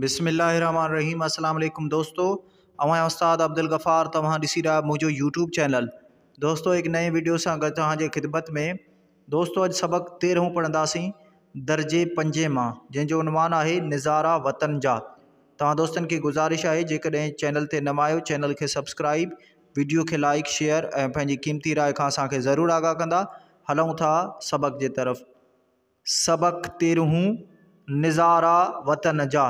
بسم الله الرحمٰن الرحيم السلام عليڪم دوستو اوهان استاد عبدالغفار توهان ڏسي رهيا آهيو منهنجو يوٽيوب چينل دوستو هڪ نئين ويڊيو سان گڏ توهان جي خدمت ۾ دوستو اڄ سبق تيرهون پڙهنداسين درجي پنجين مان جنهن جو عنوان آهي نظارا وطن جا توهان دوستن کي گذارش آهي جيڪڏهن چينل تي نوان آهيو چينل کي سبسڪرائب ويڊيو کي لائڪ شيئر ۽ پنهنجي قيمتي راء کان اسان کي ضرور آگاهه ڪندا هلون ٿا سبق جي طرف سبق تيرهون، نظارا وطن جا،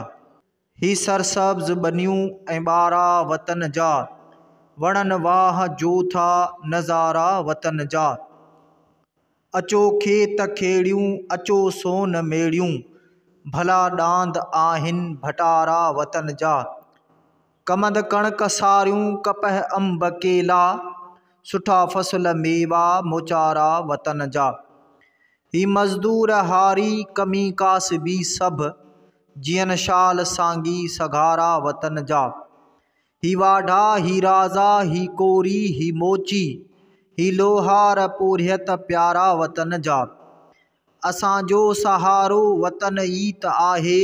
هي سرسبز ٻنيون ۽ ٻارا وطن جا، وڻن واهه جو ٿا نظارا وطن جا. اچو کيت کيڙيون، اچو سون ميڙيون، ڀلا ڏاند آهن ڀٽارا وطن جا. ڪمند ڪڻڪ ساريون، ڪپهه انب ڪيلا، سٺا فصل ميوا موچارا وطن جا. هي مزدور هاري ڪمي ڪاسبي سڀ، جئن شال سانگي سگهارا وطن جا. هي واڍا هي رازا هي ڪوري هي موچي، هي لوهار پورهيت پيارا وطن جا. اسان جو سهارو وطن ئي ته آهي،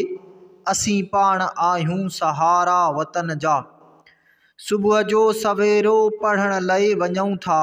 اسين پاڻ آهيون سهارا وطن جا. صبح جو سويرو پڙهڻ لئي وڃون ٿا.